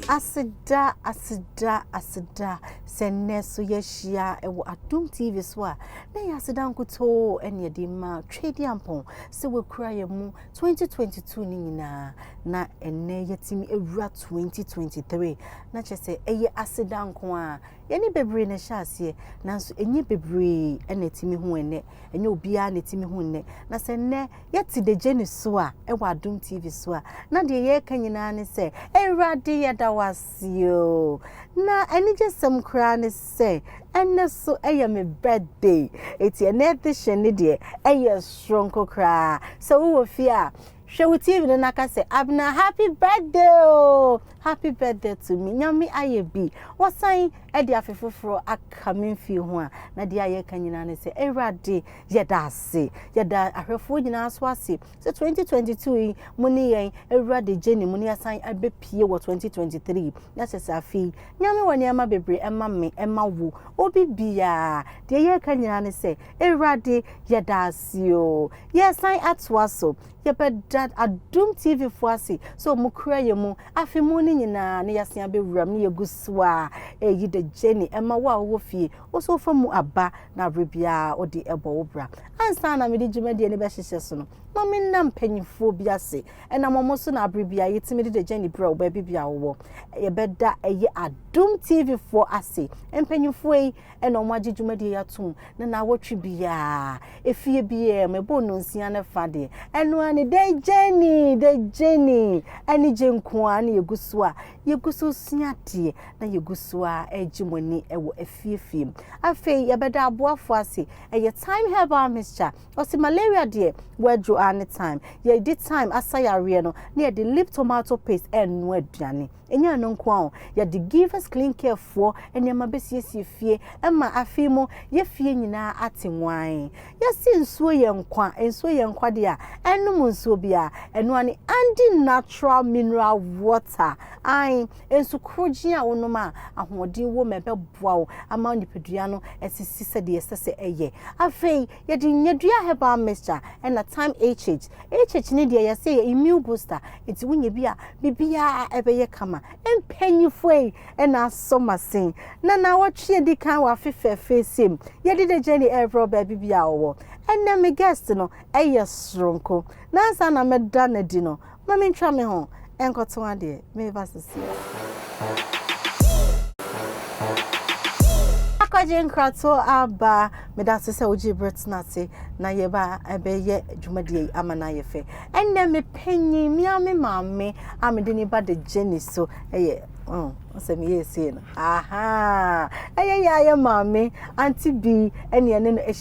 Aseda, aseda, aseda sɛ nnɛ so yɛahyia wɔ Adom TV so a, na ɛyɛ aseda nkutoo ɛne ɛde ma Tweediampɔn sɛ wakura yɛn mu 2022 no nyinaa na ɛnnɛ yɛtumi awura 2023 na kyɛ sɛ ɛyɛ aseda nko a Yɛne bebree na ɛhyɛ aseɛ, nanso ɛnyɛ bebree na ɛtumi hu ɛnnɛ. Ɛnyɛ obiara na ɛtumi hu nnɛ. Na sɛ nnɛ yɛte Dejeni so a, ɛwɔ Adom TV so a, na deɛ yɛreka nyinaa ne sɛ, Awurade yɛda wo ase oo. Na anigyesɛm koraa ne sɛ, ɛnnɛ so ɛyɛ me birthday. Enti ɛnnɛ edition no deɛ, ɛyɛ soronko koraa. Sɛ wowɔ fie a, Hwɛ wo TV no na ka sɛ, Abena happy birthday oo! Happy birthday to me! Nyame ayɛ bi, wasan de afe foforɔ aka me mfie ho a, na deɛ a yɛka nyinaa ne sɛ, Awurade yɛda ase! Yɛda ahwɛfoɔ nyinaa so ase sɛ 2022 yi mo ne yɛn awura de gyeni mu na yɛasan abɛpie wɔ 2023 na kyɛ sɛ afe yi Nyame wɔ nneɛma bebree ɛma me, ɛma wo, obi biara. Deɛ yɛka nyinaa ne sɛ, Awurade, yɛda ase oo. Yɛresan atoa so. Yɛbɛda Adom TV foɔ ase sɛ wɔn kura yɛn mu afe mu no nyinaa na yɛasan abɛwura mu na yɛgu so a ɛyi the journey ɛma wo a wowɔ fie wo nso wofa mu aba na berɛ biara wode ɛbɔ wo bra. Ansa na mede dwumadie no bɛhyehyɛ so no, ma me nna mpanimfoɔ bi ase. Ɛnam wɔn so na aberɛ biara yɛtumi de the journey brɛ wo baabi biara wowɔ. Yɛbɛda ɛyɛ Adom TV foɔ ase. Mpanimfoɔ yi, ɛna wɔagye dwumadie yi atom na naawɔtwe biara efie biara mu ɛbɔ nnonsia ne fa deɛ ɛno ara ne dɛ gyɛni dɛ gyɛni anigye nko ara na yɛgu so a yɛgu so sua adeɛ na yɛgu so a ɛregye mo ani wɔ afiefie mu afei yɛbɛda aboafoɔ ase ɛyɛ time herbal mixture ɔsi malaria deɛ wɔadwo a ne time yɛde time asa yareɛ no na yɛde lip tomato paste ɛno aduane Ɛnyɛ ɛno nko ara o, yɛde Givers Clean Care foɔ nneɛma bɛsiesie fie ma afei mu yɛ fie nyinaa ate nwann. Yɛse nsuo yɛ nkwa, nsuo yɛ nkwa deɛ a, ɛnnom nsuo biara. Ɛno ara ne Andy Natural Mineral Water. Ae, nsu korogyen a wonom a ahoɔden wɔ mu a ɛbɛboa wo ama nipadua no asisi sɛdeɛ ɛsɛ sɛ ɛyɛ. Afei Yɛde nyadua herbal mixture ɛna time HH. HH ne deɛ yɛsɛ yɛ immune booster nti wonya bi a bibiaa ɛbɛyɛ kama. Mpanyinfoɔyi ɛna asɔ masin na nawɔtwe adi kan wɔ afe fɛfɛɛsɛ mu. Yɛde the journey ɛbrɛ wo baabi biaa ɔwɔ. Ɛnɛ me guest no ɛyɛ soronko. Nansa na mɛda no adi no Ma me ntwa me ho nkɔto adeɛ, meba sesie. Akɔgye nkratoɔ aba. Meda ase sɛ wogyee berɛ tena ase na yɛba bɛyɛ dwumadie yi ama no ayɛ fɛ. Ɛnnɛ me panyin, me ara me maame a mede ne ba de gye ne so yɛ oh, sɛ meyɛɛ sei no, ahaa, ɛyɛ yɛ ara yɛ maame, Auntie Bee, ɛne ɛne no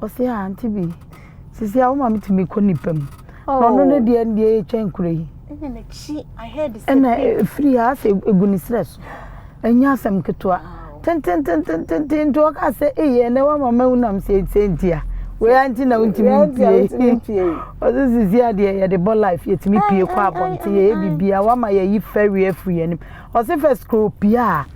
Ɔse a aunty bi sisi a woma me tumi kɔ nipa mu na ɔno ne deɛ deɛ ɛtwa nkura yi ɛna ɛfiri ha sɛ ɛgu ne serɛ so ɛnyɛ asɛm ketewa tententententen nti ɔka sɛ eyɛ na wama ma wonam sɛ ɛsɛ nti a wei anti na wontumi mpie ɔse sisi a deɛ yɛde bɔ life yɛtumi pie kɔ abɔnten yɛyɛ bibia wama yɛyi fɛreɛ firi yɛnim ɔse fɛ skoro pie a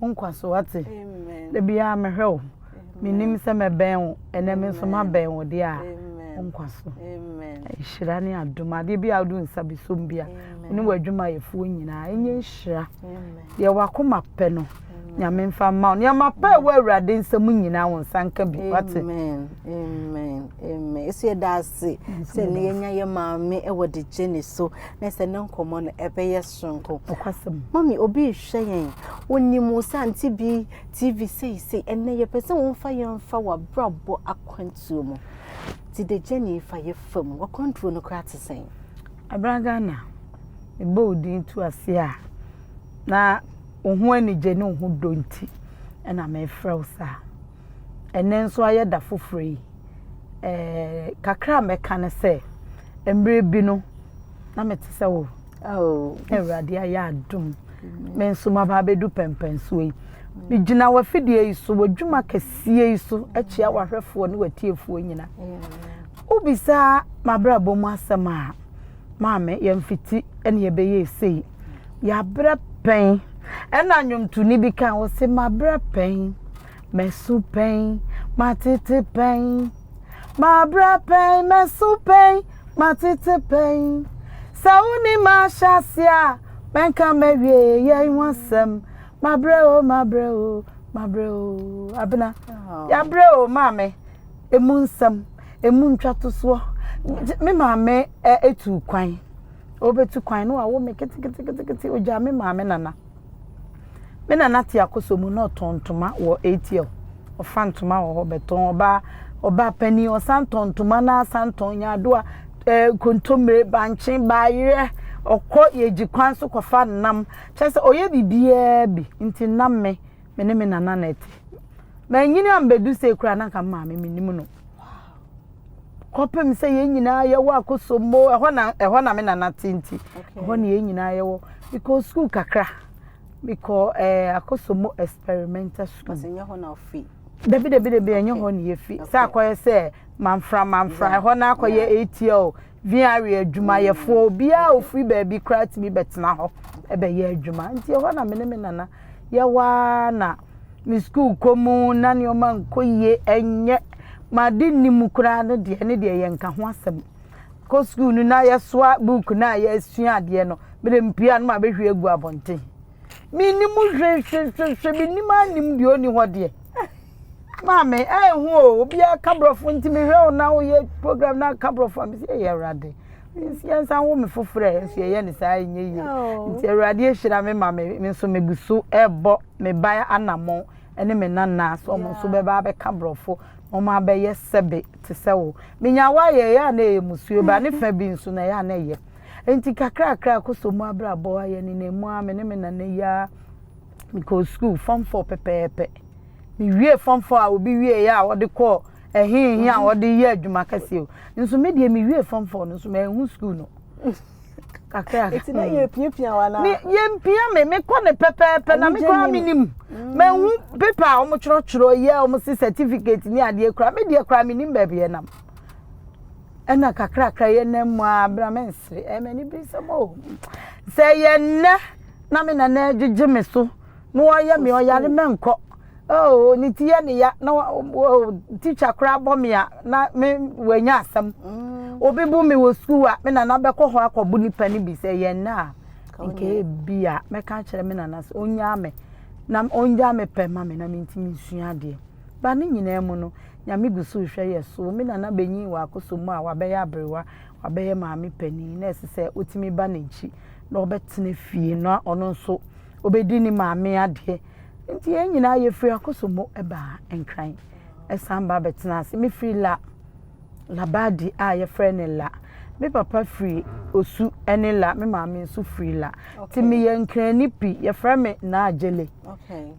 wo nkwa so wate da biara mehwɛ wo menim sɛ mɛbɛn wo ɛnɛ me nso mabɛn wo deɛ a wo nkwa so nhyira ne adom adeɛ bi a wode nsa bɛsom bi a ne w'adwumayɛfoɔ nyinaa ɛnyɛ nhyira deɛ wakoma pɛ no nyame mfa mma wo nneɛma pɛ ɛwɔ awurade nsɛm nyinaa wo nsa nka bi wate ɛsɛ yɛda ase sɛ ne yɛnya yɛ maame ɛwɔ de gye ne so na sɛ ne nkɔmmɔ no ɛbɛyɛ soronko. Nokwasɛm. Mommy obi rehwɛ yɛn, onim wo sɛ Auntie bi TV seisei. Ɛnnɛ yɛpɛ sɛ womfa yɛn mfa w'abrabɔ akwantuo mu. Ti the journey fa yɛ fa mu. W'akwantuo no koraa te sɛn? Abena Ghana, mebɔ wo din tu ase a, na wo ho anigye ne wo ho dɔ nti na merefrɛ wo saa. ɛnnɛ nso ayɛ da foforɔ yi. Eh, kakra a mɛka ne sɛ, mmerɛ bi no, na mete sɛ wo. Oh. Awurade ayɛ adom. Me nso maba abɛdu pɛmpɛnsoɔ yi. Megyina w'afidie yi so, w'adwuma kɛseɛ yi so, akyia w'ahwɛfoɔ ne w'atiefoɔ nyina. Wobisaa m'abrabɔ mu asɛm a, maame, yɛmfiti ɛne yɛbɛyɛ esei. Yɛabrɛ pɛn. Ɛna nnwomtoni bi kan, ɔse, mabrɛ pɛn. Mɛso pɛn, matete pɛn, mabrɛ pɛn, mɛso pɛn, matete pɛn. Sɛ woni mahyɛ ase a, mɛnka mawie yɛn ho asɛm. Mabrɛ o, mabrɛ o, mabrɛ o. Abena, yɛabrɛ o maame, emu nsɛm, emu ntwatosoɔ. Me maame etu kwan, ɔbɛtu kwan na wawo me ketekete, ogyaa me maame nana. Me nana te akɔsɔ mu na ɔtɔn ntoma wɔ ATL. Ɔfa ntoma wɔ hɔ bɛtɔn ɔbaa ɔbaa panin ɔsan tɔn ntoma na asan tɔn nyaadoa ɛɛ eh, kontomire bankye baayerɛ ɔkɔ yɛgye kwan so kɔfa nam kyerɛ sɛ ɔyɛ biribiara bi nti nam me me ne me nana na ɛte. Manyini ambɛdu sei koraa na nka maame menim no. kɔpem sɛ yɛn nyinaa yɛwɔ akosombo ɛhɔ na ɛhɔ na me nana te nti ɛhɔ na yɛn nyinaa yɛwɔ mekɔ sukuu kakra mekɔ ɛɛ eh, akosombo experimental school dabi dabi dabi ɛnyɛ hɔ na yɛfi sɛ akɔyɛ sɛ manfra manfra ɛhɔ na akɔyɛ atl Viare adwumayɛfoɔ obiara a ɔfiri baabi koraa tumi bɛtena hɔ bɛyɛ adwuma nti ɛhɔ na me ne me nana yɛwɔ ara na me sukuu kɔ mu na nneɛma nkɔ yie ɛnyɛ made nni mu koraa no deɛ ne deɛ yɛ nka ho asɛm kɔ sukuu no na yɛsoa buuku no a yɛasua adeɛ no mede mpia no ma bɛhwie agu abɔnten Mennim hwehwehwehwe, mennim ara nnim deɛ ɔnni hɔ deɛ. Maame, ɛyɛ ho o, obiara ka borɔfo nti mehwɛ wo na woyɛ program na ka borɔfo a mesi ɛyɛ awurade. Yɛnsan wo me foforɔ a nso yɛyɛ ne saa ɛnyɛ yie. Oh. Nti awurade ahyira me ma me nso megu so ɛrebɔ me ba anammɔn ne me nana so ɔmo nso bɛba abɛka borɔfo na ɔmo abɛyɛ sɛbe te sɛ wo. Menya wo ayɛ ɛyɛ a na ɛyɛ musuo ba ne fa bi nso na ɛyɛ a na ɛyɛ. Enti kakrakra kɔ so mu abrabɔ a yɛnenam mu a me ne me nana yi ara mekɔɔ sukuu fam fɔ pɛpɛɛpɛ. Mewie fam fɔ a obi wie yɛ a wɔde kɔ ɛhe he a wɔde yɛ adwuma kɛseɛ o. Nso me deɛ mewie fam fɔ no nso manhu sukuu no. Kakra. Eti na yɛ piapia wa na. Yɛ mpia me mekɔ ne pɛpɛɛpɛ na mekɔ a menim. Mm. Manhu pepa a wɔn twerɛtwerɛ yɛ wɔn se certificate ne adeɛ kora me deɛ kora menim baabi ɛnam. ɛna kakrakra yɛ nam mu a bra me nsere ɛyɛ m'ani bi nsɛm o sɛ yɛ nnɛ na me nana agyegye me so na wɔyɛ me ɔyare mɛnkɔ oh ne ti yɛ ne ya na oh teacher koraa bɔ me a na me wɔanya asɛm mm. obi bu me wɔ sukuu a me nana bɛkɔ hɔ akɔbo nipa no bi sɛ yɛ nnɛ a nka ebi a mɛka kyerɛ me nana sɛ onyaa me na onyaa me pɛ ma me na mentumi nsua adeɛ Ba ne nyinaa mu no, Nyame gu so rehwɛ yɛ so. Me nana benyin wɔ akɔsɔ mu a ɔabɛyɛ aberewa, ɔabɛyɛ maame panyin na ɛse sɛ otumi ba n'enkyi na ɔbɛtsena fie na ɔno nso obedi ne maame adeɛ. Ntsi hɛn nyinaa yefiri akɔsɔ mu ba Nkran san ba bɛtsenaa ase. Me firi La, Labadi a yɛfrɛ no La. Me papa firi Osu ne La, me maame nso firi La. Ntsi meyɛ Nkranni pi. Yɛfrɛ me Naa Gyele.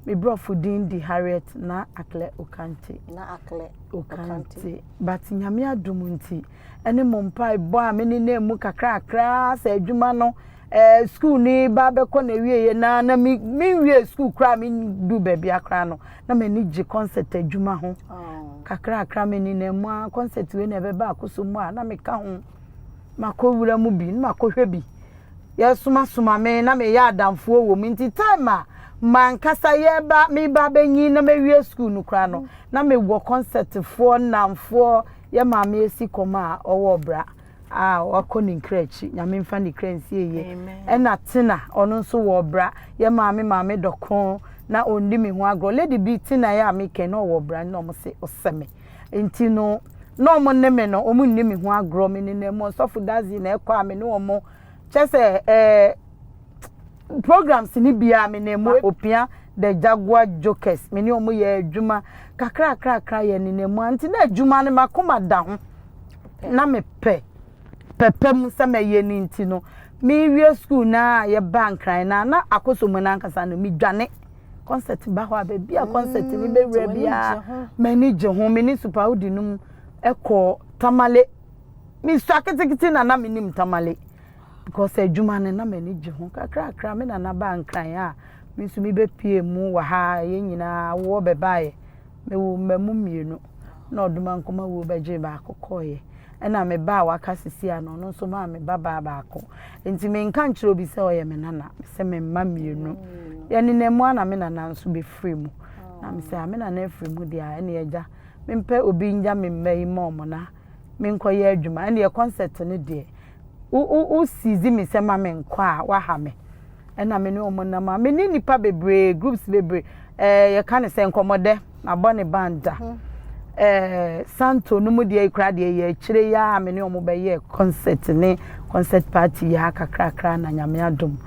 Me brɔfo din di Harriet na Akle Okante. Na Akle Okante. But nyame adom nti, ɛne mo mpaebɔ a mene na mu kakrakra sɛ adwuma no eh, school ni ba bɛkɔ na awieɛ na na me menwie school koraa me du baabi akora no na m'ani gye concert adwuma ho oh. kakrakra mene na mu a concert wei na ɛbɛba akoso mu a na meka ho makɔ wura mu bi na makɔhwɛ bi. Yɛresomasoma me na meyɛ adamfoɔ wɔ mu nti time a mankasa yɛreba meba abɛnyin na mawie sukuu no koraa no na mewɔ kɔnsɛtfoɔ nnamfoɔ yɛ maame asi kɔm a ɔwɔ ɔbra a wakɔ ne nkra akyi nyame mfa ne kra nsie yie ɛna tena ɔno nso wɔ ɔbra yɛ maame maame dɔko na ɔndi me ho agorɔ lady bi tena yɛ a mekɛ na ɔwɔ ɔbra na ɔmo se ɔsɛ me Nti no, na wɔn ne me no, wɔn nni me ho agorɔ. Me ne na mu ɔsɔfo dazi na ɛkɔ a me ne wɔn. Kyɛ sɛ ɛɛ programs ne bia me ne mu opia the jaguar jokers me ne wɔn yɛ adwuma kakra kakra yɛ ne na mu anti na adwuma no makoma da ho na me pɛ pɛpɛ mu sɛ mɛyɛ ne nti no me wie school na yɛ ba nkran na na akoso mu na ankasa no me dwane concert ba hɔ a baabi a concert no mm, bɛwura biara m'ani gye ho me ne supawodi no mu ɛkɔ tamale mesua ketekete na na menim tamale because adwuma no na m'ani gye ho kakrakra me nana baa nkran a me nso mebɛpie mu wɔ ha yɛn nyinaa woɔ bɛbaeɛ Mewoo mmamu mmienu, ɛnna ɔdomankoma wuo bɛgyee baako kɔeɛ. Ɛnna me ba a waka seesei no, ɔno nso maa me babaa baako. Enti menka nkyerɛ obi sɛ ɔyɛ me nana, mesɛ me mma mmienu. Yɛnenam mu a na me nana nso bɛfiri mu. Na mesɛ a me nana afiri mu deɛ a, ɛnneɛ agya, mempɛ obi ngya me mma yi mma wɔn na menkɔyɛ adwuma ɛnneɛ concert no deɛ wo wo wo sizi me sɛ ma menkɔ a waha me ɛna me ne wɔn nam a me ne nipa bebree groups bebree ɛɛ yɛka ne sɛ nkɔmɔdɛ mabɔ ne band da mhm. ɛɛ santo no mu deɛ ekura deɛ yɛ akyire yi a me ne wɔn bɛyɛ concert ne concert party yɛ a kakrakra na nyame adom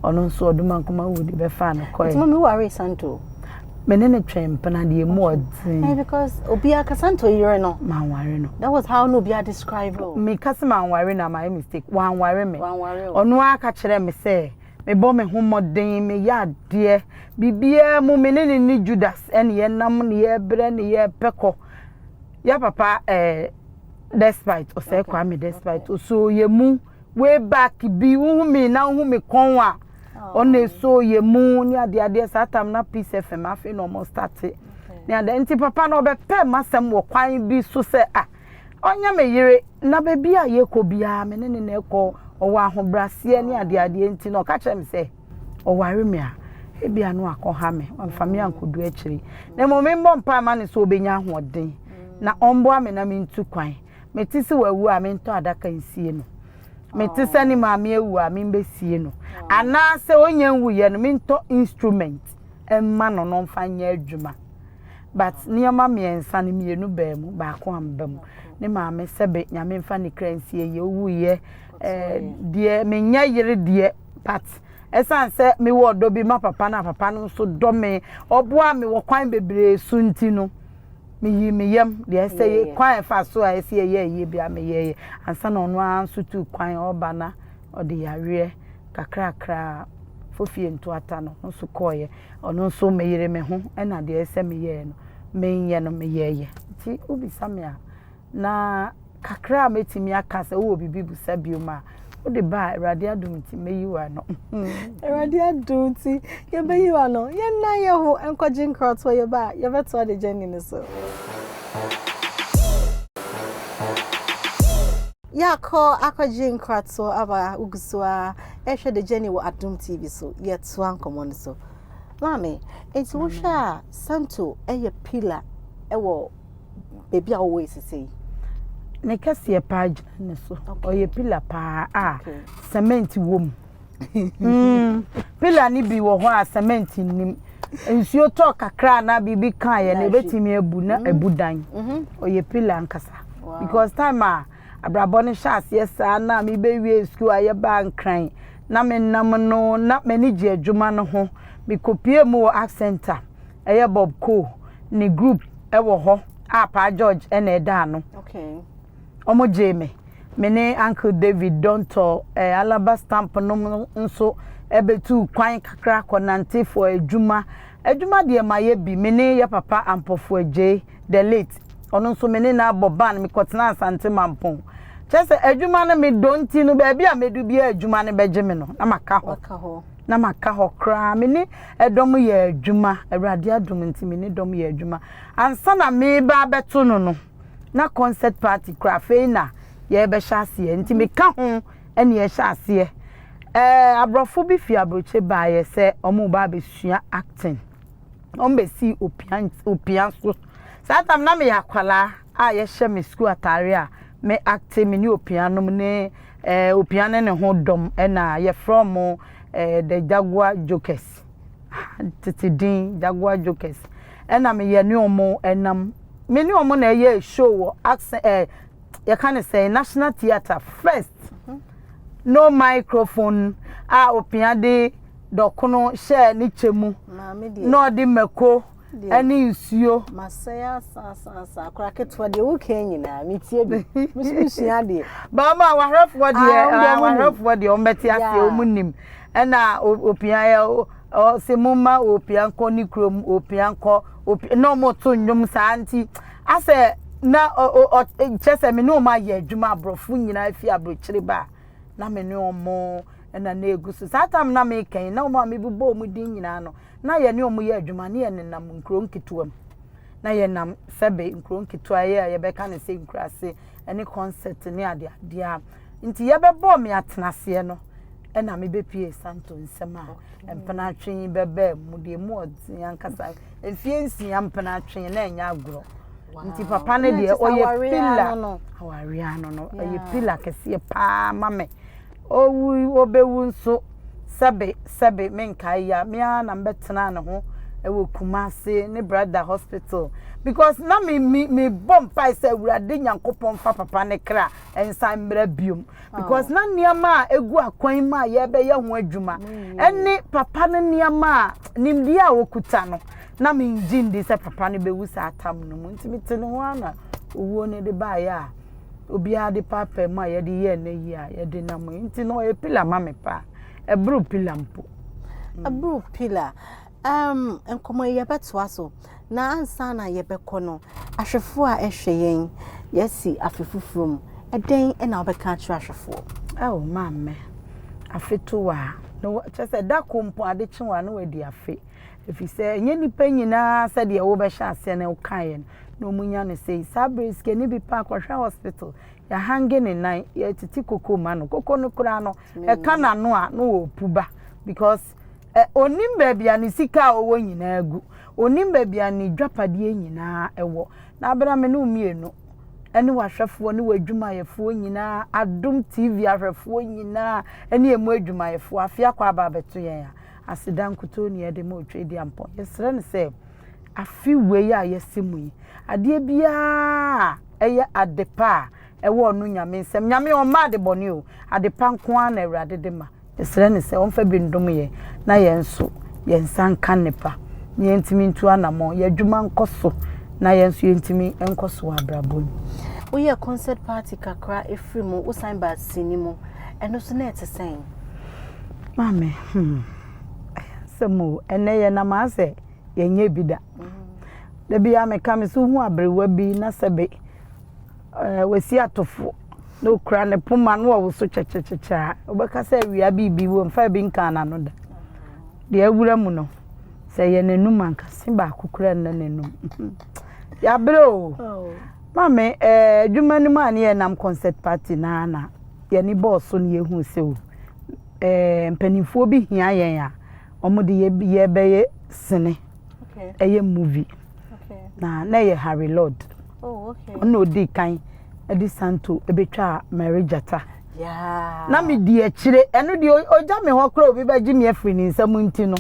ɔno nso ɔdoma nkoma wudi bɛfa no kɔɛ. ɛtuma mi wari santo. Me ne no twɛn mpena deɛ mu ɔdzen. Hey, because obi akasa nto yere no. Manware no. That was how no obi a describe o. Me kasa manware na my mistake. Wanware me. Wanware o. Ɔno a ka kyerɛ me sɛ me bɔ me ho mmɔden me yɛ adeɛ biribiara mu me ne ne ne Judas ɛne yɛ nam ne yɛ brɛ ne yɛ pɛ kɔ. Ya papa ɛɛ eh, despite ɔsɛ okay. Kwame despite okay. so yɛ mu. way back bi wohu me na wohu me kɔn a ɔna ɛso yɛ mu ne adeɛ adeɛ saa tam na peace fm afei na ɔmo starte ne adeɛ nti papa na ɔbɛpɛ m'asɛm wɔ kwan bi so sɛ a ɔnyɛ me yere na baabi a yɛkɔ biara me ne ne na ɛkɔ ɔwɔ ahobraseɛ ne adeɛ adeɛ nti na ɔka kyerɛ me sɛ ɔware me a ebi ano akɔha me ɔmfa me ankɔdu akyiri na mmom mmɔ mpa ma ne sɛ ɔbɛnya ahoɔden na ɔmboa me na mentu kwan mete sɛ wawu a mentɔ adaka nsie no mete sɛ ne maame awu a membɛsie no anaasɛ ɔnya nwuyɛ no mentɔ instrument mma no no mfa nyɛ adwuma but nneɛma mmiɛnsa no mmienu baa mu baako amba mu ne maame sɛbe nyame mfa ne kra nsie yɛ owuiɛ eh, deɛ menyɛ yere deɛ but ɛsiane sɛ mewɔ ɔdɔ bi ma papa no a papa no nso dɔ me ɔboa me wɔ kwan bebree so nti no meyii me yam deɛ ɛsɛ yɛ kwan ɛfa so a ɛsɛ yɛyɛ yie bi a meyɛɛyɛ ansa na ɔno ara nso tu kwan ɔba na ɔde yareɛ kakrakra a fofie ntoata no ho so kɔɔeɛ ɔno nso meyere me ho ɛna deɛ ɛsɛ meyɛɛ no menyɛ no meyɛɛyɛ nti wobisa me a Na kakra a mɛtumi aka sɛ wowɔ biribi busa biom a, wode ba a Awurade adom nti mɛyi wo ano. Awurade adom nti yɛbɛyi wo ano. Yɛn nan yɛ ho nkɔgye nkratoɔ yɛba a yɛbɛtoa de gyɛnni no so. Yɛakɔ akɔgye nkratoɔ aba a wogu so a ɛhwɛ de gyɛnni wɔ Adom TV so. Yɛtoa nkɔmmɔ no so. Maame, nti wohwɛ a Santo yɛ pillar wɔ baabi a wɔwɔ sisei. Ne kɛseɛ paa gyina ne so ɔyɛ pila paa a sɛmɛnti wɔ mu hmm. pila no bi wɔ hɔ a sɛmɛnti nnim nsuo tɔ kakra na biribi kaa yɛ no ebɛtumi abu na hmm. abu dan hmm. ɔyɛ pila nkasa because time a abrabɔ no hyɛ aseɛ saa na mebɛwie sukuu a yɛbaa nkran na menam no na m'ani gye adwuma no ho mekɔpie mu wɔ accent a Ɛyɛ Bob Coe ne group wɔ hɔ a Paa George na ɛda ano. Okay. Wɔn gyee me. Me ne Uncle David Dontɔɔ eh, Alaba Stamp nom no nso ɛbɛtu kwan kakra kɔnante for adwuma. Adwuma deɛ ma yɛ bi. Me ne yɛ papa Ampɔfo Agyei, the late. Ɔno nso me ne no abɔ ban, mekɔtena Asante Mampɔn. Kyerɛ sɛ adwuma no me dɔ nti no, baabi a mɛdu biara adwuma no bɛgye me no, na maka hɔ. Waka hɔ. Na maka hɔ koraa. Me ne Dɔm yɛɛ adwuma, Awurade adom nti me ne dɔm yɛɛ adwuma. Ansa na mereba abɛto no no, na concert party kura afei na yɛrebɛhyɛ aseɛ nti meka ho ɛne yɛhyɛ aseɛ. Ɛɛ aborɔfo bi fi aburokye baeɛ sɛ wɔreba abɛsua acting. Wɔbɛsii opia, opia so. Saa tam na meyɛ akwadaa. a yɛhyɛ me sukuu atare a me acte me ne opia nom ne eh, opia ne ne ho dɔm ɛna yɛfrɛ mo eh, the jaguar jokers tete din jaguar jokers ɛna meyɛ ne ɔmo ɛnam me ne ɔmo na ɛyɛ show wɔ accent eh, yɛka ne sɛ national theatre first no microphone a opia de dɔkono hyɛɛ ne kyɛ mu na ɔde mako ɛne nsuo. masɛe asaasaasa akora ketewa deɛ woka nyinaa metie bi meso mesua adeɛ baama awahwɛfoɔ deɛ awahwɛfoɔ deɛ ɔmbɛte aseɛ ɔmu nim ɛna opia yɛ ɔse mo ma opia nkɔ ne kurom opia nkɔ opia na ɔmo to nnwom saa nti asɛ na kyɛ sɛ me ne ɔmo ayɛ adwuma aborɔfo nyinaa fi aburokyiri ba na me ne ɔmo ɛna na egu so saa tam na mekɛn na ɔmo a mebobɔ ɔmo din nyinaa no na yɛne wɔn yɛ adwuma ne yɛnenam nkuro nketewa mu na yɛnam sɛbe nkuro nketewa yɛ a yɛbɛka ne sɛ nkuraase ne concert ne adeadeɛ a nti yɛbɛbɔɔ me atenaseɛ no ɛna mebɛpie santo nsɛm a mpenatwe yi bɛbaa mu deɛ mu ɔdzen ankasa mfie nsia mpenatwe na ɛnyɛ agorɔ nti papa no deɛ ɔyɛ pila awareɛ ano no ɔyɛ pila kɛseɛ paa ma me Owui, obewu nso, sɛbe, sɛbe, menkae yi a, me ara na mebɛtenaa ne ho wɔ Kumasi, ne Brada Hospital, because na me, me, mebɔ mpae sɛ Awurade Nyankopɔn mfa papa ne kra nsan mmra biom, because na nneɛma a egu akwan mu a yɛrebɛyɛ ho adwuma, ɛne papa no nneɛma a nimdeɛ a okuta no, na mengye ndi sɛ papa no bewu saa tam no mu, nti mete ne ho ara na owuo no de baeɛ a. obiara de paapaa mu a yɛde yɛ nnɛ yi a yɛde nam yi nti no ɔyɛ pillar ma me paa ɛboro pillar mpo. ɛboro pillar um, nkɔmɔ yi yɛbɛtoa so na ansa na yɛbɛkɔ no ahwɛfoɔ a ɛhwɛ yɛn yɛasi afe foforɔ mu ɛdɛn na wobɛka akyerɛ ahwɛfoɔ. ɛwɔ maa mmɛ afe to wɔ a kyɛ sɛ da ko mpo ade kye wɔ a na wadi afe. Efisɛ ɛnyɛ nnipa nyinaa sɛdeɛ wobɛhyɛ aseɛ na wokaeɛ no na wɔnya no sei. Saa berɛ yi sikani bi pɛ akɔhwɛ hospital, yɛahange ne nan, yɛretete koko ma no. Koko no koraa no, ɛka n'ano a na ɔrepu ba because eh, ɔnim baabi a ne sika a ɔwɔ nyinaa gu. Ɔnim baabi a ne dwapadeɛ nyinaa ɛwɔ. Na berɛ a me ne wo mmienu ne wahwɛfoɔ ne w'adwumayɛfoɔ nyinaa, adom TV ahwɛfoɔ nyinaa ne ɛmu adwumayɛfoɔ, afei akɔ aba abɛto yɛn a, aseda nkutoo na yɛde ma Otwedeampɔn. Yɛsrɛ no sɛ afe wei a yɛasi mu yi, adeɛ biara a ɛyɛ adepa a ɛwɔ ɔno Nyame nsam, Nyame ɔmma adebɔne o, adepa nko ara na Awurade de ma. Yɛsrɛ no sɛ ɔmfa bi ndom yɛn na yɛn nso yɛn nsa nka nnepa na yɛntumi ntu anammɔn, yɛn adwuma nkɔ so na yɛn nso yɛntumi nkɔ so wɔ abrabɔ mu. Woyɛɛ concert party kakra firii mu, wosan baa sini mu, ɛno nso na ɛte sɛn? Maame hmm ɛyɛ asɛm o, ɛnɛ yɛ nam ha sɛ yɛ nyɛ bi da. Da bi ara me ka me sɛ wo hu aberewa bi na sɛ be wasi atofo na okura ne poma na ɔwo so kyɛkyɛkyɛkyɛ a, wo bɛ ka sɛ awia bi bi wɔ mu fa bi nkaa n'ano da. Deɛ awura mu no, sɛ ɛyɛ n'anum a nka se baako kura nna n'anum. Yɛ abere o. Maame ɛɛ adwuma no mu a ne yɛ nam concert party naa na. yɛn ani bɔɔ so na yɛhuu sɛ o, eh, mpanimfoɔ bi hia yɛn a, wɔn de yɛbɛyɛ sene, ɛyɛ movie. Na na ɛyɛ Harry Lord. Oh, Ɔna odi kan de Santo bɛtwaa Mary Gyata. Na me di akyire, ɛno deɛ ɔgya me hɔ kora obi bɛgye me afiri ne nsam nti no.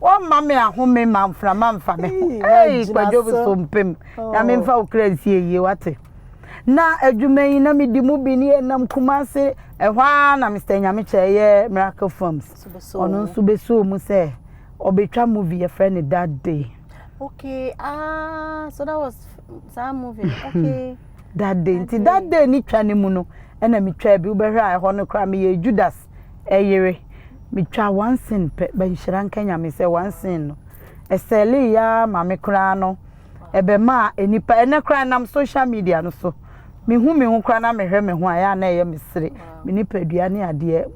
wɔmma me ahome ma mframa mfa me ho ei kwadwo so mpem na memfa wo kra nsie yie wate na adwuma yi na medi mu bi ne yɛnam Kumase ɛhɔ ara na Mr. Nyamekyɛ ɛyɛ Miracle Films ɔno nso bɛsoo mu sɛ ɔbɛtwa movie yɛfrɛ no That Day okay ah so that was saa movie okay That Day nti That Day ne twa no mu no ɛna metwaa bi wobɛhwɛ a ɛhɔ no koraa meyɛ Judas ɛyere metwa one scene pɛ bɛnhyira nka Nyame sɛ one scene no ɛsɛlee yaa ma me koraa no ɛbɛmaa nnipa, ɛnɛ koraa nam social media no so, mehu me ho koraa na mehwɛ me ho a, ɛyɛ a na ɛyɛ me sere, me nipadua ne adeɛ.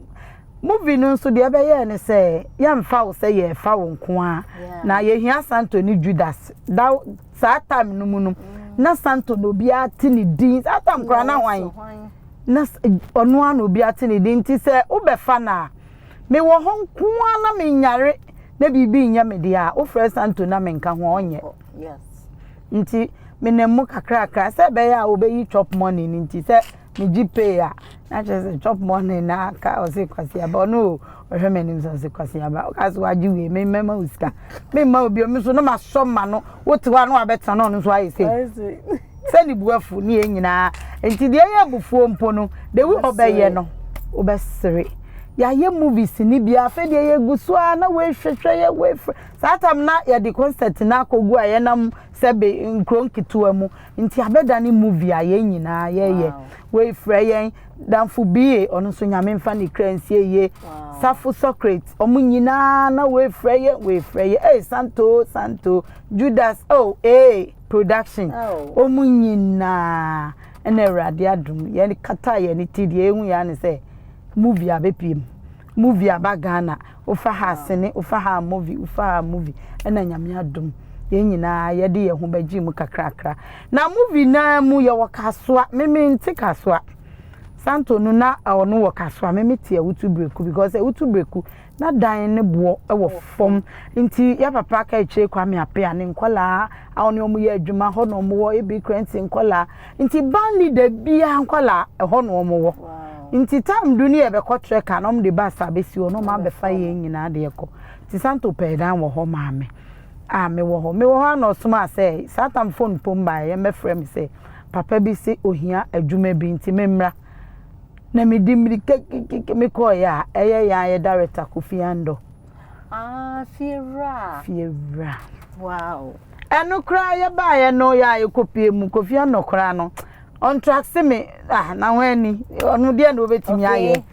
Movie no nso deɛ ɛbɛyɛɛ ne sɛ, yɛmfa wo sɛ yɛfa wo nko ara, na yɛhia Santo ne Judas. Da saa time no mu no, na Santo na obiara te ne din, saa time koraa na hwan? Na ɔno ara na obiara te ne din, nti sɛ wobɛfa no a, Mewɔ hɔ nko ara na menyare na biribi nyɛ me deɛ a, wofrɛ Santo na menka ho a, ɔnyɛ. Nti menam mu kakrakra sɛ ɛbɛyɛ a wɔbɛyi chop money no nti sɛ megye pay a na kyerɛ sɛ chop money na aka ɔse Kwasi Aba ɔno o ɔhwɛ m'anim sɛ ɔse Kwasi Aba woka sɛ wagye wei me mɛma wo sika memma wo bio me nso na masɔ ma no wote hɔ a na wabɛtena na ɔno nso ayɛ sei sɛ ne bu afu ne yɛn nyinaa nti deɛ ɛyɛ abufuo mpo no de wi ɔbɛyɛ no wobɛsere yɛayɛ movies ne bi afei deɛ yɛgu so a na woehwehwɛ yɛ woefrɛ saa tam na yɛde concert no akɔgu a yɛnam sɛ be nkuro nketewa mu nti abɛda ne movie a yɛn nyinaa yɛyɛ woefrɛ yɛn damfo bie ɔno nso nyame mfa ne kra nsie yie safo socrate ɔmo nyinaa na woefrɛ yɛ woefrɛ yɛ ee santo santo judas oh ee production ɔmu nyinaa ɛna awurade adom yɛn kata yɛn ti deɛ ehu yɛn ano sɛ movie abɛpie mu movie aba ghana wofa ha sini wofa ha movie wofa ha movie ɛna nyame adom yɛn nyinaa yɛde yɛn ho bɛgye mu kakrakra na movie naa mu yɛwɔ kasoa meme nte kasoa santo no na ɔno wɔ kasoa meme te awutu breku because awutu breku Na dan ne boɔ wɔ fam nti yɛ papa ka akyire Kwame Apea ne nkɔlaa a ɔne wɔn yɛ adwuma hɔ na wɔn wɔ ebi krɛnti nkɔlaa nti band leader biara nkɔlaa ɛhɔ na wɔn wɔ nti time du ne yɛ bɛkɔ trɛ ka na wɔn de bus abɛsi hɔ na wɔn abɛfa yɛn nyinaa de ɛkɔ nti santo pɛɛ dan wɔ hɔ maa me a mewɔ hɔ mewɔ hɔ a na ɔsom a sɛ saa tam phone pom baeɛ yɛn bɛfrɛ me sɛ papa bi se ohia adwuma bi nti memmra Na mede mmirika kikikiki mekɔeɛ a, ɛyɛ yɛn a yɛda Rita Kofi Andɔ. Ah, fiewura. Fiewura. Wow. Ɛno koraa yɛbaeɛ no yɛ a yɛkɔpie mu Kofi Andɔ koraa no ɔntrase me ah na ho ani ɔno deɛ na ɔbɛtumi ayɛ. Okay.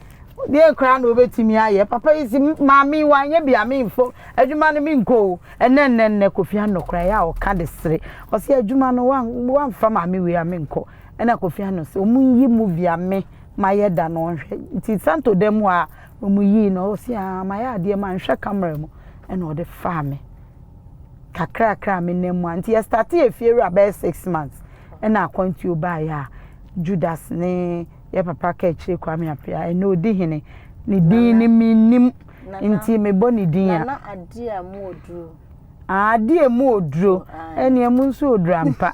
deɛ koraa na ɔbɛtumi ayɛ papa yi si maame wanyɛ bi a memfo adwuma no menkɔ o ɛnɛ nnɛ nnɛ Kofi Andɔ koraa yɛ a ɔka de sere ɔsɛ adwuma no wamfa maame wei a menkɔ ɛna Kofi Annan se ɔmo nyi movie a me mayɛ da no ɔnhwɛ nti Santo da mu a ɔmo yii no ɔse aa mayɛ adeɛ manhwɛ camera mu ɛna ɔde faa me kakrakra a me nan mu a nti yɛ starte yɛ fie wura bɛyɛ six months ɛna akwantuo baayɛ a Judas ne yɛ papa ka akyire Kwame Appiah ɛnɛ ɔdi hene ne din ne mennim nti mebɔ ne din a. Nana adeɛ a mu ɔduro. Aa deɛ ɛmu wɔ duro ɛnneɛ ɛmu nso wɔ duro ampa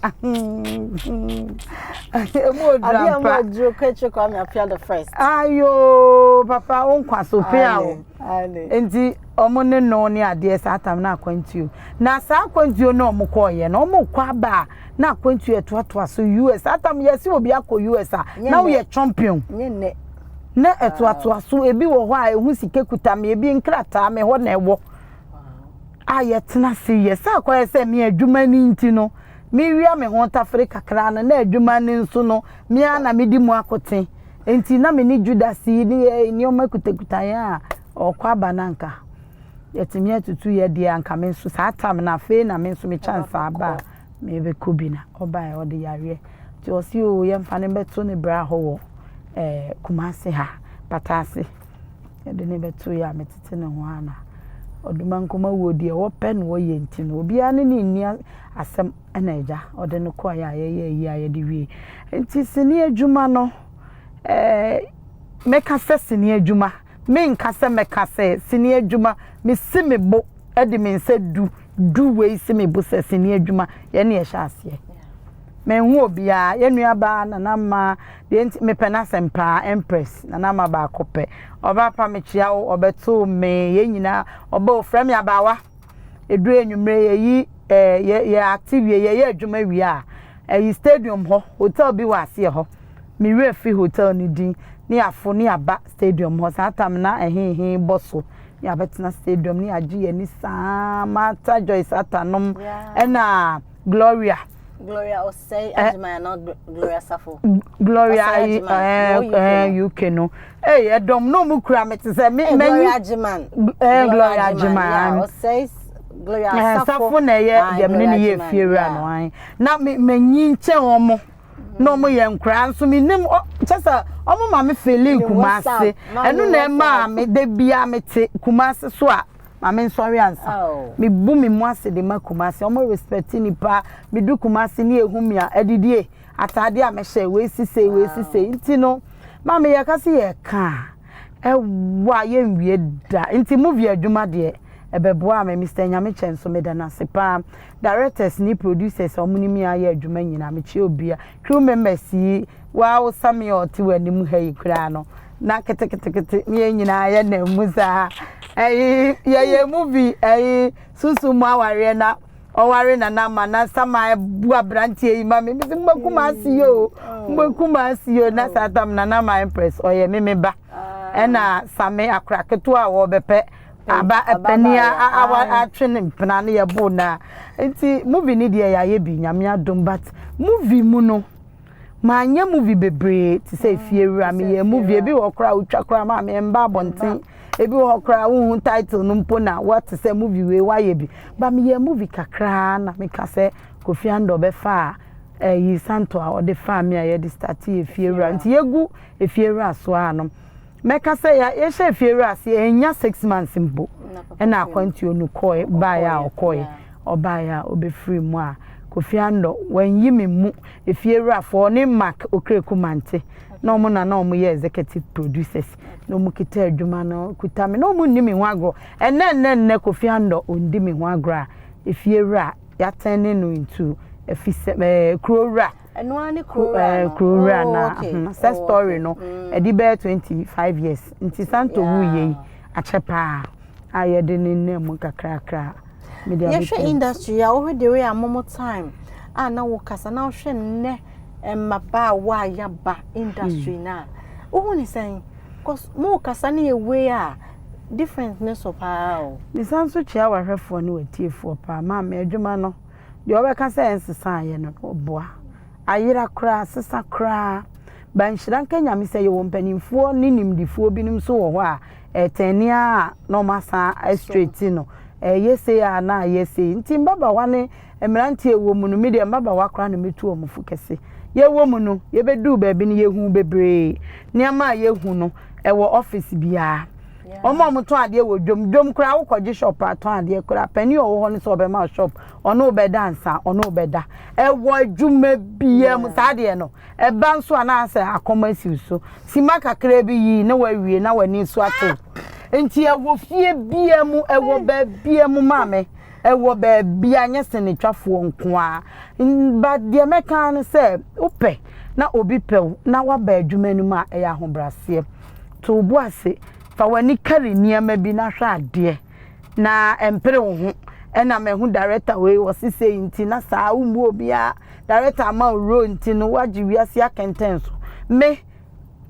ɛmu wɔ duro ampa adeɛ ɛmu wɔ duro kɛkyɛ kwa mi apia the first ayoo papa wo nkwa so pia o nti wɔn ne no ne adeɛ saa tam na akwantuo na saa akwantuo na wɔn kɔɔyɛ na wɔn kɔ aba a na akwantuo ɛtoatoa so us saa tam yɛsi obi akɔ us a na woyɛ champion nye nnɛ na ɛtoatoa so ebi wɔ hɔ a ehu sika kuta mi ebi nkrataa mi hɔ na ɛwɔ. a yɛtena ase yɛ. Sɛ akɔyɛ sɛ me adwuma no nti no, mewia me ho tafere kakra no, na adwuma no nso no, me ara na medi mu akote. Enti na me ne Judas yi ne yɛ nneɛma kutakuta yɛn a ɔkɔ aba no anka yɛtumi atutu yɛ deɛ anka me nso saa tam no afei na me nso me chance aba a mebɛkɔ bi na ɔbaeɛ ɔde yareɛ nti ɔsi o yɛmfa no bɛto ne bra hɔ wɔ ɛɛ kumase ha pataase. Yɛde no bɛto yɛ a metete ne ho ana? Odumankomah wuo deɛ wɔpɛ na wɔyɛ nti no obiara ne ne nni asɛm ɛna agya ɔde no kɔɛ a yɛyɛ ayi a yɛde wie nti sini adwuma no ɛɛ mɛka sɛ sini adwuma menka sɛ mɛka sɛ sini adwuma mesi me bo ɛde me nsa du du wei si me bo sɛ sini adwuma yɛne ɛhyɛ aseɛ Menhu obiara, yɛn nua baa Nana Mma deɛ nti mepɛ n'asɛm paa Empress Nana Mma baako pɛ Ɔbaa pa mekyea wo ɔbɛtoo me yɛn nyinaa ɔbaa ofira me abaawa Ɛduru anwumerɛ yɛyi eh, yɛ, yɛ acte wie yɛyɛ adwuma wie a Ɛyi stadium hɔ, hotel bi wɔ aseɛ hɔ Me werɛ fi hotel no din Ne yɛaforo ne yɛaba stadium hɔ Saa time no na ɛhe he bɔ so Ne yɛabɛtena stadium ne yɛagye yɛn ani saa Martha Joyce Attah nom ɛna Gloria Gloria Osei eh, Ajimaya na Gloria Safo. Gloria Osei Ajimaya eh, UK eh, no. Hey, eh, dom no mu kura me te sɛ me me. Gloria Ajiman. Eh, Gloria Ajiman. Osei Gloria Safo. Safo na ye ye me ne ye fie wura no an. Na me me nyi nkyɛn wɔn. Na wɔn yɛ nkura nso me nim kyɛ sɛ wɔn ma me feeling kumase. Ɛno na ɛma me de bia me te kumase so a. Ma me nsɔre ansa. Me bu me mu ase de ma Kumasi. Ɔmo respect ni pa. Me du Kumasi ni ehu mia adidie, ataade a me hyɛ, wei si sei, wei si sei. Nti no, ma me yɛ ka se yɛ ka a, ɛwɔ a yɛ nwie da. Nti movie adwuma deɛ, ɛbɛ boa me. Mister Nyamekyɛ nso me da no ase paa. Directors ni producers a ɔmo ni me ayɛ adwuma nyina, me kyia obia. crew members yi, woaa wo Sammy a ɔte w'anim ha yi koraa no, na keteketekete ne yɛn nyinaa yɛ na mu saa. Ɛyi yɛyɛ movie ɛyi sunsun mu awareɛ na ɔware na na ma na sama ɛbu aberanteɛ yi ma me mesi mbɛ kuma ase yo mbɛ kuma ase yo na saa tam na na ma impress ɔyɛ me me ba ɛna same akora ketewa a wɔbɛpɛ Aba ɛpɛ ni a awa atwe ne mpena ne yɛ bo na nti movie ni deɛ yɛayɛ bi nyame adom but movie mu no manyɛ movie bebree te sɛ efie wura meyɛ movie ebi wɔ koraa wotwa koraa ma me mba abɔnten ebi wɔ koraa wohu title no mpo na wɔte sɛ movie wei wayɛ bi ba meyɛ movie kakraa na meka sɛ Kofi Andor bɛfa a ɛyi eh, santo a ɔde faa me a yɛde start yɛ efie wura nti yɛgu efie wura so a no mɛka sɛ yɛhyɛ fie wura ase ɛnya six months mpo ɛna akwantuo no kɔɛ baeɛ a ɔkɔɛ ɔbaeɛ a ɔbɛfiri mu a kofi andɔ wɔnyi me mu efie wurafoɔ ne mark okreku mante na wɔn na na wɔn yɛ executive producers na wɔn kita adwuma no kuta me na wɔn nni me ho agorɔ ɛnɛ ɛnɛ ɛnɛ kofi andɔ ɔndi me ho agorɔ a efie wura yɛatɛn ne no ntu efi sɛ ɛɛ kuro wura. ɛno ara ne kuro wura eh, no kuro wura oh, na okay. Hmm, sɛ oh, story no hmm. ɛde bɛyɛ twenty five years nti santo wu yie yi akyɛ paa a yɛde ne nna mu kakrakra media bi yɛhwɛ industry a wɔhwɛ de wei a momo time a na wo kasa na wɔhwɛ nnɛ mmabaawa a yaba industry na wohu ne sɛn cause mo kasa ne yɛ wei a different ne so paa o. ne san so kyia wahwɛfoɔ ne watiefoɔ paa maame adwuma no. Deɛ wɔbɛka sɛ ɛnsesa ayɛ no no ɔboa. Ayera koraa, asesa koraa. But nhyira nka Nyame sɛ yɛwɔ mpaninfoɔ ne nimdefoɔ binom nso wɔ hɔ a ɛtɛnee ara na wɔn asan a straighten no. Ɛyɛ sei ara na ayɛ sei. Nti mbabawa ne mmeranteɛ a ɛwɔ mu no, me deɛ mbabawa koraa na mɛtu wɔn fo kɛse. Yɛwɔ mu no, yɛbɛduu baabi no yɛhuu bebree. Nneɛma a yɛhu no, ɛwɔ office biara. Wɔn a wɔtɔn adeɛ wɔ dwom, dwom koraa wokɔgye shop a tɔn adeɛ koraa panin a ɔwɔ hɔ no sɛ ɔbɛma wo shop ɔne wo bɛda ansa ɔne wo bɛda ɛwɔ adwuma biara mu saa adeɛ no ɛba nso anaasɛ akɔm asiw so sima kakra bi yi na wawie na w'ani so atew nti ɛwɔ fie biara mu ɛwɔ baabia mu maame ɛwɔ baabia nyɛ sɛ ne twafoɔ nko a ba deɛ mɛka no sɛ wopɛ na obi pɛw na waba adwuma no mu a ɛyɛ ahobraseɛ To wo bo ase, fa w'ani kari nneɛma bi na hwɛ adeɛ, na mpere wo ho. Ɛna mahu director wei wɔ se sei nti na saa wo mmu obiara director ama wo role nti no wagye wiase akɛntɛnso me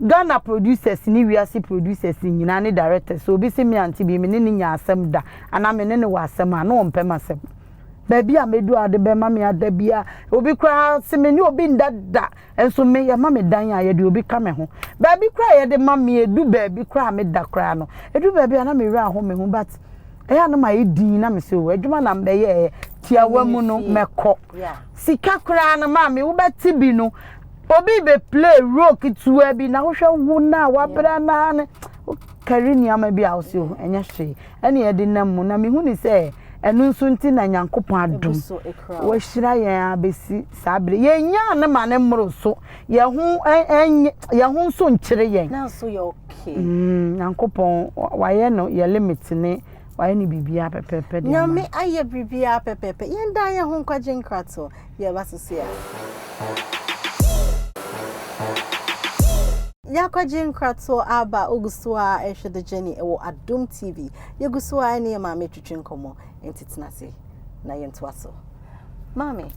Ghana producers ne wiase producers nyinaa ne directors sɛ obi se me ante bi me ne no nya asɛm da anaa me ne no wɔ asɛm a na ɔmpɛ m'asɛm baabi a mɛdu a ɔde bɛma me ada biara obi koraa se me ne obi nda da Nso me yɛma me dan a yɛde obi ka me ho baabi koraa yɛde ma me edu baabi koraa me da koraa no edu baabi a na me wura ho me ho but ɛyɛ a na ma yɛ din na me se o adwuma na mbɛyɛ ɛyɛ tiawa mu no mɛkɔ sika koraa no maa me wobɛte bi no obi bɛ play role ketewa bi na wohwɛ wo na wabrɛ naa no kari nneɛma bi a wosɛ o ɛnyɛ hwee ɛne ɛde nam mu na mehu ne sɛ ɛno nso nti na nyankopɔn adom wahyira yɛn abɛsi saa bere yɛnyaa ne ma ne mmoro so yɛn ho yɛn ho nso nkyere yɛn mm, nyankopɔn wayɛ no yɛ limit ne wayɛ ne biribiara pɛpɛpɛ deɛ nyame ayɛ biribiara pɛpɛpɛ yɛn da yɛn ho nkwagye nkrato Yɛ ba sisi a. Y'akɔgye nkratoɔ aba wogu so a ɛhwɛ the journey ɛwɔ adom TV yɛgu so a ɛne yɛ maame retwitwi nkɔmmɔ nti tena ase na yɛntoa so maame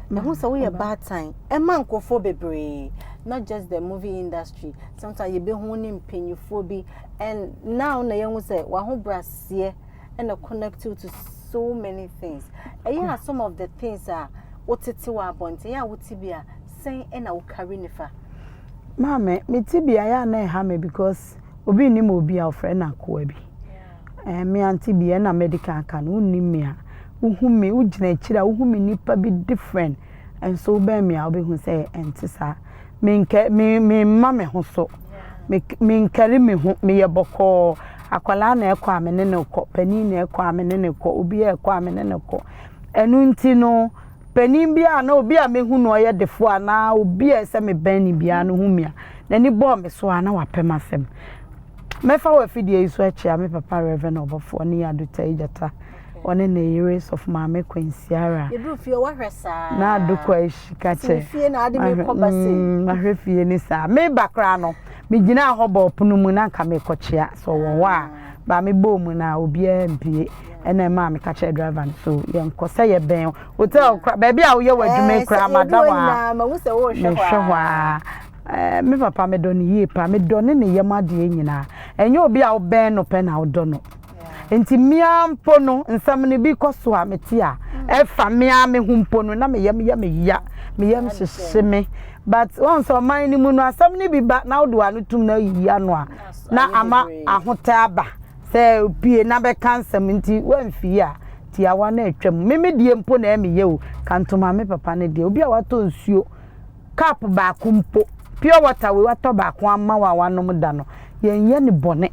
mehu sɛ woyɛ baatan ɛma nkurɔfoɔ bebree not just the movie industry sometimes yɛbɛhu ne mpanyinfoɔ bi and now na yɛhu sɛ wahobraseɛ ɛna connect you to so many things ɛyɛ a some of the things a wotete wɔ abɔnten a wote bi a sɛn ɛna wo carry nifa maame mete bi a yɛ a na ɛha me because obi nnim obi a ɔfrɛ no akoa bi ɛɛ me ante bi ɛna medical aka no wonnim me a wohu me wogyina akyiri a wohu me nipa bi different ɛnso wobɛn me a wobɛhu sɛ ɛnte saa menkɛ me memma me ho so, menkari me ho, meyɛ bɔkɔɔ. Akwadaa na ɛrekɔ a, me ne no rekɔ, panin na ɛrekɔ a, me ne no rekɔ, obiara rekɔ a, me ne no rekɔ. Ɛno nti no, panin bi a na obi a mehu no ɔyɛ defoɔ anaa obi a ɛsɛ mebɛn no biara no hu me a, n'ani bɔɔ me so a, na wapɛ m'asɛm. Mɛfa wɔ afidie yi so akyia me papa Rev. Ɔbɔfoɔ Nii Ado Tayi Gyata ɔne ne yere sɔfo maame kwansiara na adokwa ahyi ka kyɛ mahwɛ fie ne saa meba koraa no megyinaa hɔ bɔɔ pono mu na nka mekɔkyea sɛ ɔwɔ hɔ a ba mebɔɔ mu no a obiara mpie ɛna ɛma me ka kyerɛ driver no so yɛnkɔ sɛ yɛbɛn hotel kora baabi a woyɛ w'adwuma yi koraa mada hɔ a mehwɛ hɔ a eh, me papa medɔ no yie pa medɔ ne ne yam adeɛ nyinaa ɛnyɛ obi a wobɛn no pɛ na wodɔ no nti mmea mpo no nsɛm no bi kɔ so a mete a ɛfa mmea me ho mpo no na me yam yɛ me ya me yam hyehye me but wɔn nso ɔman no mu no asɛm no bi ba na wode wano tum na ayiyi ano a na ama ahotɛ aba sɛ pie na bɛka nsɛm nti wɔamfie a tiawa no atwam me me deɛ mpo na ɛmeyɛ o kantoma me papa no deɛ obi a watɔ nsuo cup baako mpo pure water wei watɔ baako ama wa wanom da no yɛnyɛ ne bɔne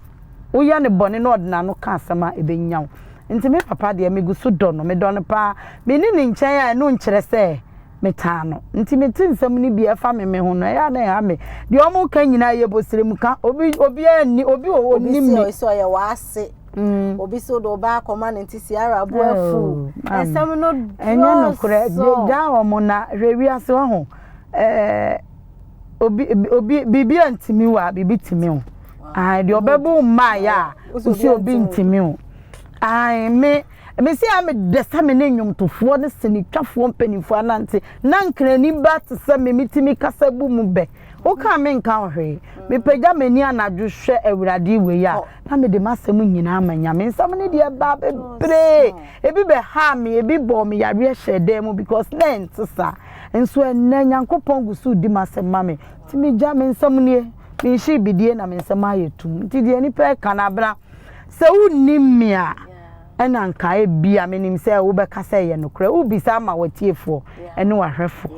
Woyɛ no bɔne na ɔde n'ano ka asɛm a, ɛbɛnya wo. Enti me papa deɛ, megu so dɔ no. Medɔ no paa. Menni ne nkyɛn a, ɛno nkyerɛ sɛ metaa no. Enti mete nsɛm no bi a, ɛfa me me ho no, ɛyɛ a na ɛha me. Deɛ wɔreka nyinaa yɛ bosrɛm ka. Obi, obiara nni, obi wɔ hɔ Obi ɔnnim se me. ɔyɛ sɛ ɔyɛ w'ase. Obi se wode wo ba akɔma no nti Ciara bo afuw. Oh, maame. Nsɛm no Ɛnyɛ nokorɛ. Gya dɔɔso. wɔn na hwɛ wiase, wahu. Ɛɛ. obi obi biribi a ntumi wɔ a biribi tumi o ahan deɛ ɔbɛbu mmaayɛ a osi obi ntumi o ahan me mesi a me dɛ sɛ me ne nnwomtofoɔ ne sinitwafoɔ mpanimfoɔ anante na nkrani ba te sɛ me metumi kasa bu mu bɛ woka me nka ɔhwee mepagya m'ani anadwo hwɛ awurade wei a na mede m'asɛm nyinaa ma nyame nsɛm ne deɛ baa bebree ebi bɛhaa me ebi bɔɔ me yareɛ hyɛɛ dan mu because na ɛnte saa Nso ɛnnɛ, Nyankopɔn gu so redi m'asɛm ma me. Nti megya, me nsɛm nie, menhye bidie na me nsɛm ayɛ tumm. Nti deɛ nnipa reka no, Abena, sɛ wonnim me a, ɛna anka ebia menim sɛ wobɛka sɛ ɛyɛ nokorɛ. Wobisa ama w'atiefoɔ ne w'ahwɛfoɔ.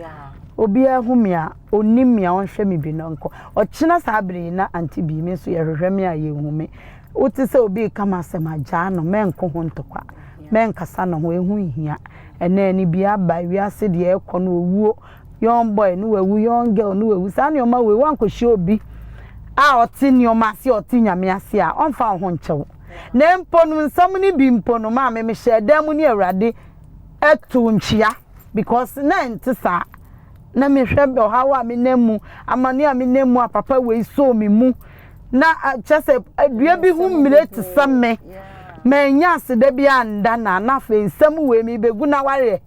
Obiara hu me a, ɔnim me a, ɔnhwɛ me bi na ɔnkɔ. Ɔkyena saa berɛ yi, na Auntie Bee, me nso yɛhwehwɛ me a, yɛnhu me. Wote sɛ obi reka m'asɛm a, gyaa no, mɛnko ho ntɔkwa, mɛnkasa ne ho, ɛho nhia. ɛnɛ ne bi aba wiase deɛ ɛkɔ no owuo young boy no wawu young girl no wawu saa nneɛma wei wankɔhyia obi a ɔte nneɛma ase ɔte nyame ase a ɔmfa wo ho nkyɛw na mpo no nsɛm no bi mpo no maame mehyɛ dan mu ne awurade ɛto nkyia because na ɛnte saa na mehwɛ ɔhaw a menam mu amane a menam mu a papa wei soo me mu na kyerɛ sɛ adua bi ho mmire te sɛ me manya aseda bi anda na na afei nsɛm wei mebɛgu na wareɛ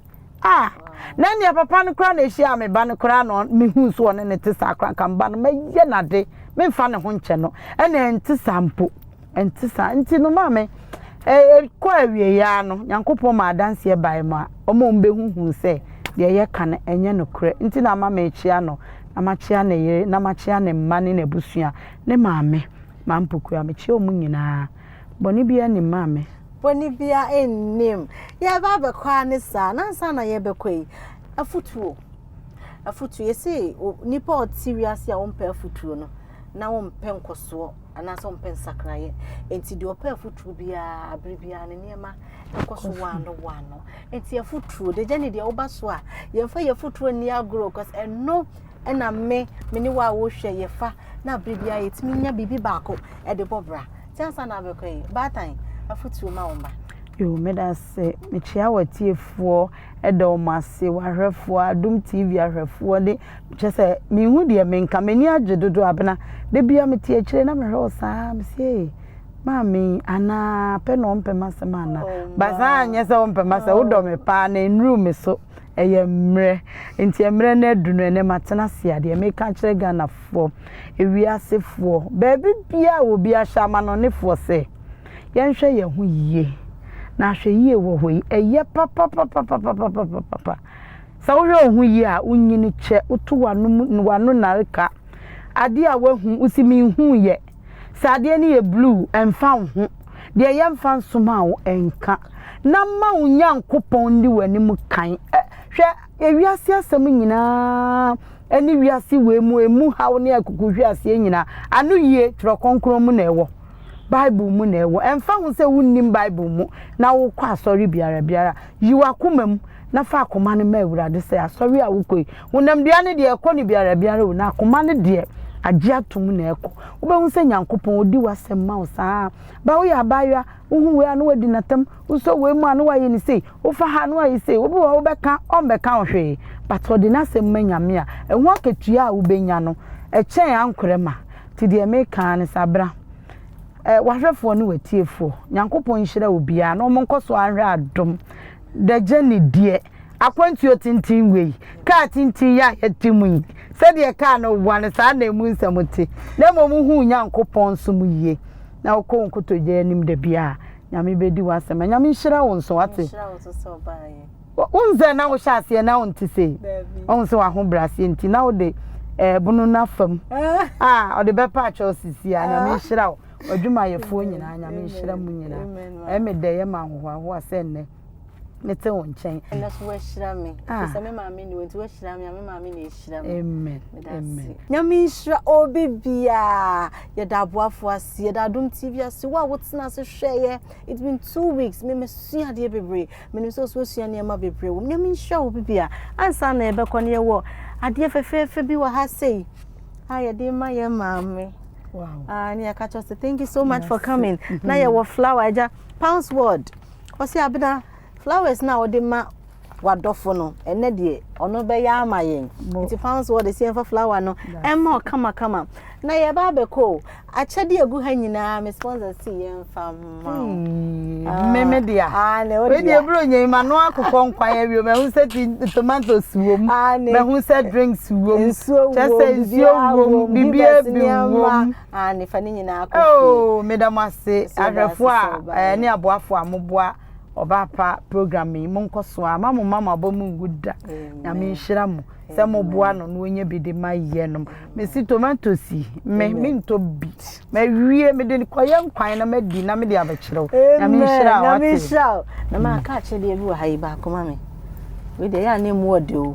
a na nea papa no koraa na ɛhyia me ba no koraa na mehu so ɔne ne te saa koraa nka mba no mɛyɛ nade memfa ne ho nkyɛ no ɛna ɛnte saa mpo ɛnte saa nti no maame ɛkɔ e, e, awieyaa no nyankopɔn ma adanseɛ bae mu a ɔma ɔmbɛhuhu sɛ deɛ yɛka no ɛnyɛ nokorɛ nti na ama mekyea no na makyea ne yere, na makyea ne mma ne n'abusua, ne maame, m'ampokua, mekyea wɔn nyinaa. Bɔne biara nnim, maame. Bɔne biara nnim. Yɛreba abɛkɔ ara ne saa, na ansa na yɛrebɛkɔ yi, afutuo, afutuo, yɛse nnipa a wɔte wiase a wɔmpɛ afutuo no, na wɔmpɛ nkɔsoɔ, anaasɛ wɔmpɛ nsakraeɛ. Enti deɛ ɔpɛ afutuo biara, berɛ biara no nneɛma kɔ so wɔano wɔano. Nti afuturo de gya ne deɛ woba so a yɛmfa yɛ afuturo ni agorɔ cause ɛno ɛna me me ne wo a wohwɛ yɛfa na abiri bi a yɛtumi nya biribi baako ɛde bɔ bra ti ansa na abɛkɔ yi baatan afuturo ma wɔn ba. Yoo meda ase mekyia wɔtiefoɔ ɛda wɔn ase wɔahwɛfoɔ adum tv ahwɛfoɔ de kyɛ sɛ mehu deɛ menka m'ani agye dodo abena da bia mete akyire na mehwɛ wɔ saa mesie. Maame yi anaa pɛ na ɔmpɛ m'asɛm anaa ba saa anyɛ sɛ ɔmpɛ m'asɛm wodɔ me paa na nnuru me so ɛyɛ mmerɛ nti mmerɛ no adu no ɛnɛ matena ase adeɛ meka kyerɛ Ghanafoɔ ewiasefoɔ baabi biara wɔ bi ahyɛ amanɔnefoɔ sɛ yɛnhwɛ yɛn ho yie na ahwɛ yie wɔ hɔ yi ɛyɛ papapapapapapapa sɛ wohwɛ wo ho yie a wonyini kyɛ woto w'ano nareka adeɛ a woahu wosi menhu yɛ Sɛ adeɛ no yɛ blue, ɛmfa wo ho. Deɛ ɛyɛ mfa nsoma wo, ɛnka. Na ma wo Nyankopɔn nni w'anim kan. Ɛ, hwɛ, ewiase asɛm nyinaa ne wiase wei mu emu haw ne akukuhweaseɛ nyinaa, anoyie Twerɛ Kronkron mu na ɛwɔ. Bible mu na ɛwɔ. Ɛmfa ho sɛ wonnim Bible mu na wokɔ asɔre biara biara. Yi w'akoma mu na fa akoma no ma Awurade sɛ asɔre a wokɔ yi, Honamdua no deɛ ɛkɔ no biara biara o, na koma no deɛ agye atom na ɛkɔ. Wobɛhu sɛ Nyankopɔn ɔdi w'asɛm ma wo saa. Ba woyɛ abaayewa, wohu wei a na wadi natam, wosɔ wei mu a na wayɛ no sei, wofa ha a na wayɛ sei, obi wɔ hɔ wobɛka a ɔmmɛka wo hwee, but ɔde n'asɛm ma Nyame a, ɛho akatua a wobɛnya no ɛkyɛn ankorɛ ma. Nti deɛ meka ara ne sɛ abra eh, w'ahwɛfoɔ ne w'atiefoɔ, Nyankopɔn nhyira obiara na wɔn nkɔso ara nhwɛ adom. The journey deɛ. akwantuo tenten wei, kaa tenten yi a yɛte mu yi, sɛdeɛ kaa no boa no, saa na emu nsɛm te, na mmom wohuu Nyankopɔn som yie, na wokɔ wo nkotodwe anim da biara, Nyame bɛdi w'asɛm, Nyame nhyira wo nso, wate? Wohu sɛ na wohyɛ aseɛ na wonte sei, wohu sɛ w'ahobrɛaseɛ nti, na wode ɛbono eh, no afam, a ɔde bɛpa akyɛw sisi a, Nyame nhyira wo, w'adwumayɛfoɔ nyinaa, Nyame nhyira mu nyinaa, ɛmɛ dɛ yɛ ma ahohoahoa sɛ nnɛ. mete wo nkyɛn. ɛnɛ so woahyira me ah. ɛfisɛ me maame ni nti woahyira me a me maame na ɛhyira me amen amen nyame nhyira obi biaa yɛda aboafoɔ ase yɛda adom tv ase wo a wotena ase hwɛeɛ it's been two weeks me mesua adeɛ bebree menim sɛ ɔso asua nneɛma bebree wɔ m nyame nhyira obi bia ansa na yɛbɛkɔ no yɛwɔ adeɛ fɛfɛɛfɛ bi wɔ ha sei a yɛde ma yɛ maame wow. uh, ah, ne yɛka kyɛ sɛ thank you so much for coming na yɛwɔ flower agya pounds word Ɔse Abena flowers no a wode ma wadɔfo no ɛnɛ deɛ ɔno bɛyɛ ama yɛn nti fa nso wɔde sɛ yɛmfa flower no ɛma ɔkama kama na yɛba abɛkɔ o akyɛde egu ha nyinaa me sponsor si yɛmfa ma o ah, mmemme deɛ ah, wei deɛ eburo nyɛ ma no akokɔ nkwan awie mɛho sɛ ti tomatoes wom ah, mɛho sɛ drinks wom kyɛ sɛ nsuo wom biribiara bi wom Aane fa ne nyinaa kɔ fie. Eww meda mo ase ahwɛfo a ɛne aboafo a moboa ɔbaa pa program yi monkɔ so a ma mo mma mo abɔ mu ngu da nyame nhyira mo sɛ moboa no na ɔnya bi de ma yɛ nom mesi tomatoes yi me mentɔ bi mawie mede kɔyɛ nkwan na madi na mede abɛkyerɛ wo nyame nhyira wo nyame nhyira wo na maka akyɛdeɛ bi wɔ ha yi baako ma me wei deɛ yɛ a na ɛmu ɔde o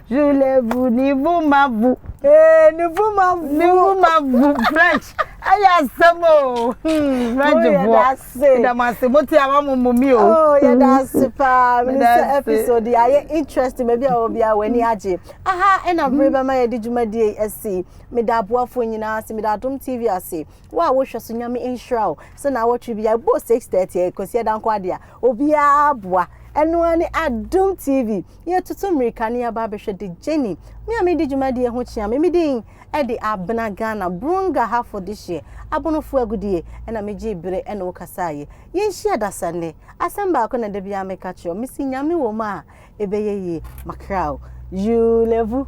Zulevu Nivumavu. Ee Nivumavu. Nivumavu French. Ayɛ asɛm o. Hmm, French fo. Yɛda mo ase. Mo te a wɔn mo mi o. Oh, yɛda hmm. ase paa. Minister episode yɛ ayɛ interesting. Baabi a wɔbi a w'ani agye. Aha ɛna bere hmm. bɛma yɛde dwumadie asi. Meda aboafoɔ nyinaa ase. Meda Adom TV ase. Wo a wohwɛ so nyame nhyira o. Sɛ na awɔtwe bi a ɛbɔ 6:30 ɛkɔsi ɛda nkɔ adeɛ a obiara aboa ɛno ara ne adom tv Yɛretutu mmirika na yɛaba abɛhwɛ de Jenny, me a medi dwumadie ho kyea me, me din de Abena Ghana, Brunga hafo dehyeɛ, Abonofoɔ agudie, ɛna megyee bere ɛne wo kasaeɛ. Yɛnhyia da sa nnɛ, asɛm baako na da biara meka kyerɛ wo, mese Nyame wɔ mu a ɛbɛyɛ yie, Macrao, you le vu.